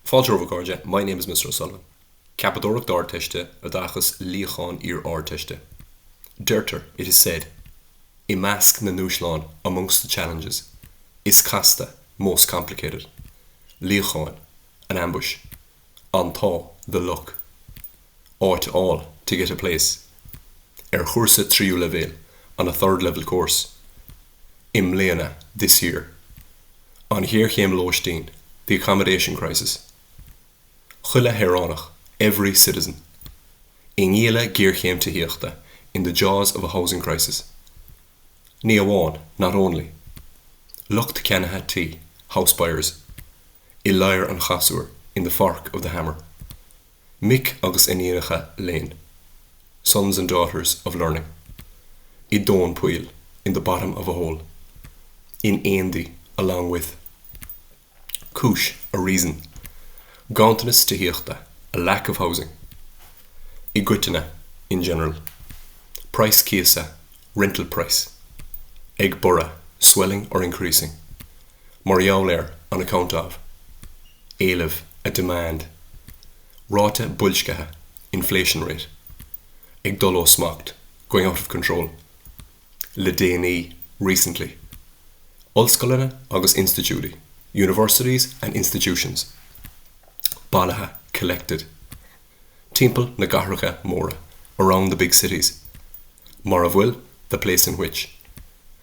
Fáilte romhaibh a chairde, my name is Mr O'Sullivan. Ceapadóireacht Ardteiste, Oideachas, Luíochán Iar-Ardteiste. Deirtear, it is said, i measc na ndúshlán, amongst the challenges. Is casta, most complicated. Luíochán, an ambush. An t-ádh, the luck. Áit a fháil, to get a place. Ar chúrsa tríú leibhéil, on a third-level course. i mbliana, this year. An ghéarchéim lóistín, the accommodation crisis. Chuile shaoránach, every citizen. I ngialla géarchéim tithíochta, in the jaws of a housing crisis. Ní amháin, not only. Lucht ceannaithe tí, house buyers. I ladhar an chasúir, in the fork of the hammer. Mic agus Iníonacha Léinn, Sons and Daughters of Learning, i dtóin poill, in the bottom of a hole, in éindí, along with, cúis, a reason, ganntanas tithíochta, a lack of housing, i gcoitinne, in general, praghas cíosa, rental price, ag borradh, swelling or increasing, mar gheall ar, on account of. Éileamh, a demand. Ráta boilscithe, inflation rate. Ag dul ó smacht, going out of control. Le déanaí, recently. Ollscoileanna agus institiúidí, universities and institutions. Bailithe, collected. Timpeall na gcathracha móra, around the big cities. Mar a bhfuil, the place in which.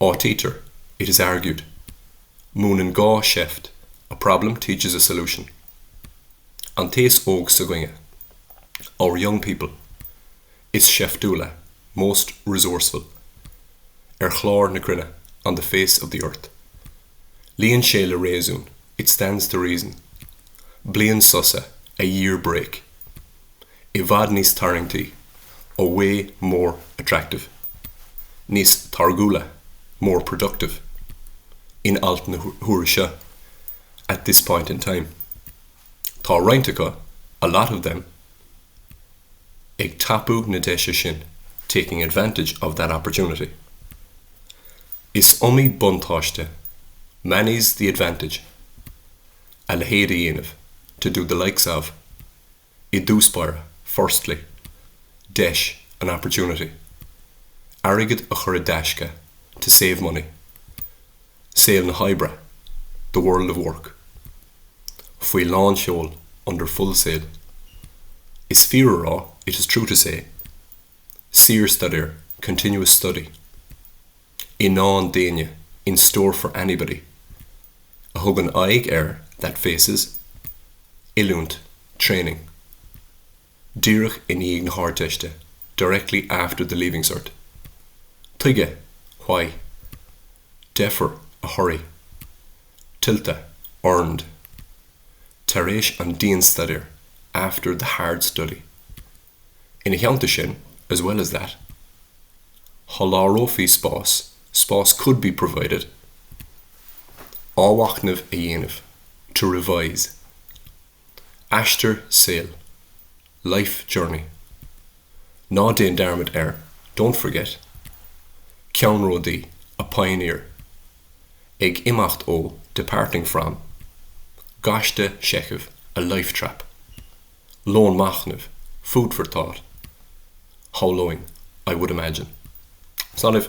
Áitítear, it is argued. Múineann gá seift, a problem teaches a solution. An t-aos óg s'againne, our young people, is seiftiúla, most resourceful, ar chlár na cruinne, on the face of the earth. Luíonn sé le réasún, it stands to reason. Bliain sosa, a year break. i bhfad níos tarraingtí, a way more attractive. Níos táirgiúla, more productive. In alt na huaire seo, at this point in time. Tá roinnt acu, a lot of them, ag tapú na deise sin, taking advantage of that opportunity. Is iomaí buntáiste, many's the advantage. A leithéid a dhéanamh, to do the likes of. i dtús báire, firstly, deis, an opportunity, airgead a chur i dtaisce, to save money, saol na hoibre, the world of work, faoi lánseol, under full sail, is fíor a rá, it is true to say, síorstaidéar, continuous study. i ndán d'éinne in store for anybody a thugann aghaidh ar that faces oiliúint training díreach i ndiaidh na hArdteiste directly after the Leaving Cert tuige why deifir a hurry tuilte earned tar éis an dianstaidéir after the hard study. Ina theannta sin, as well as that, sholáthrófí spás, spás could be provided athmhachnamh a dhéanamh, to revise aistear saoil, life journey ná déan dearmad ar, don't forget ceannródaí, a pioneer ag imeacht ó, departing from gaiste seichimh, a life trap. Lón machnaimh, food for thought, shamhlóinn, I would imagine. It's not if.